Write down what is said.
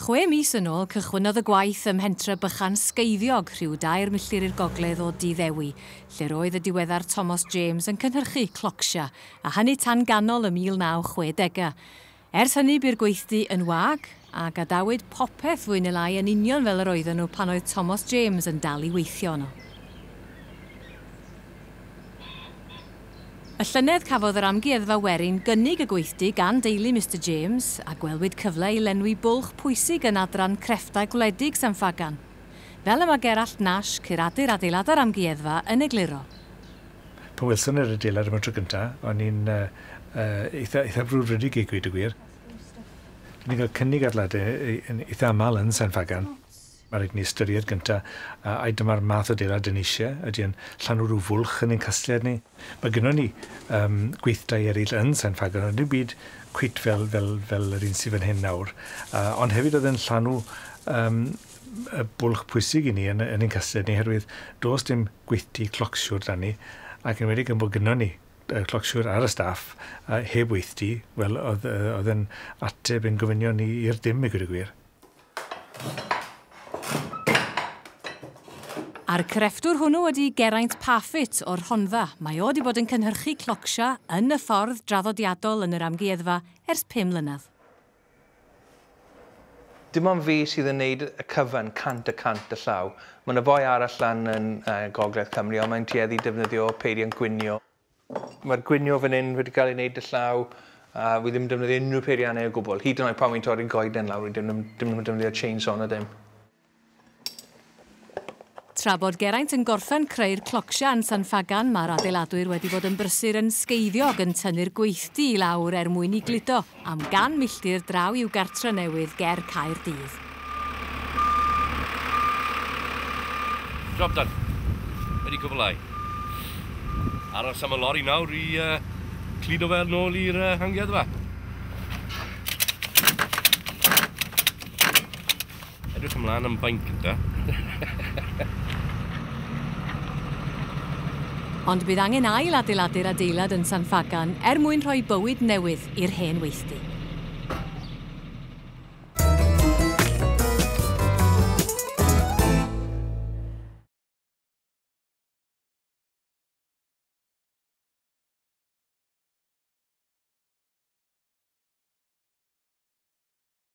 Chwe mis yn ôl, cychwynnodd y gwaith ym mhentre bychan Sgeiddiog, rhyw dair milltir i'r gogledd o Dŷ Ddewi, lle'r oedd y diweddar Tomos James yn cynhyrchu clocsio, a hynny tan ganol y 1960au. Ers hynny bu'r gweithdy yn wag, a gadawyd popeth fwy neu lai yn union fel yr oedden nhw pan oedd Tomos James yn dal i weithio yno. Y llynedd cafodd yr Amgueddfa Werin gynnig y gweithdy gan deulu Mister James, a gwelwyd cyfle i lenwi bwlch pwysig yn Adran Crefftau Gwledig San Ffagan. Fel y mae Gerallt Nash, curadur adeiladau'r Amgueddfa, yn egluro. Pan welson ni'r adeilad am y tro cyntaf, o'n i'n eitha, eitha frwdfrydig i gweud y gwir. Dyn ni'n cael cynnig adeiladau yn eitha aml yn San Ffagan. Mae rhaid ni ystyried gyntaf, a, ai dyma'r math o adeilad dyn ni eisiau? Ydy e'n llanw rhyw fwlch yn ein casgliad ni? Mae gynnon ni um, gweithdai eraill yn San Ffagan, ond dim byd cwit fel, fel, fel yr un sydd fan hyn nawr. Uh, ond hefyd oedd e'n llanw um, y bwlch pwysig i ni yn ein casgliad ni oherwydd does dim gweithdy clocsiwr 'da ni ac yn enwedig gan bod gynnon ni clocsiwr ar y staff heb weithdy, wel oedd yn ateb ein gofynion ni i'r dim i gweud y gwir. A'r crefftwr hwnnw ydi Geraint Parfitt o'r Rhondda. Mae o 'di bod yn cynhyrchu clocsio yn y ffordd draddodiadol yn yr Amgueddfa ers pum mlynedd. Dim ond fi sydd yn neud y cyfan cant y cant y llaw. Ma na foi arall lan yn gogledd Cymru ond mae'n tueddu i defnyddio peiriant gwnio. Mae'r gwnio fan hyn wedi cael ei neud y llaw a wi ddim yn defnyddio unrhyw peiriannau o gwbl. Hyd yn oed pan wi'n torri'r goeden lawr wi dim yn defnyddio chainsaw na dim. Tra bod Geraint yn gorffen creu'r clocsha yn San Ffagan, mae'r adeiladwyr wedi bod yn brysur yn sgeiddiog yn tynnu'r gweithdy i lawr er mwyn i gludo am gan milltir draw i'w gartre newydd ger Caer Dydd. Job done. Wedi cwblhau. Aros am y lori nawr i uh, cludo fel nôl i'r uh, amgueddfa. Edrych ymlaen am baint gynta. Ond bydd angen ail adeiladu'r adeilad yn San Ffagan er mwyn rhoi bywyd newydd i'r hen weithdy.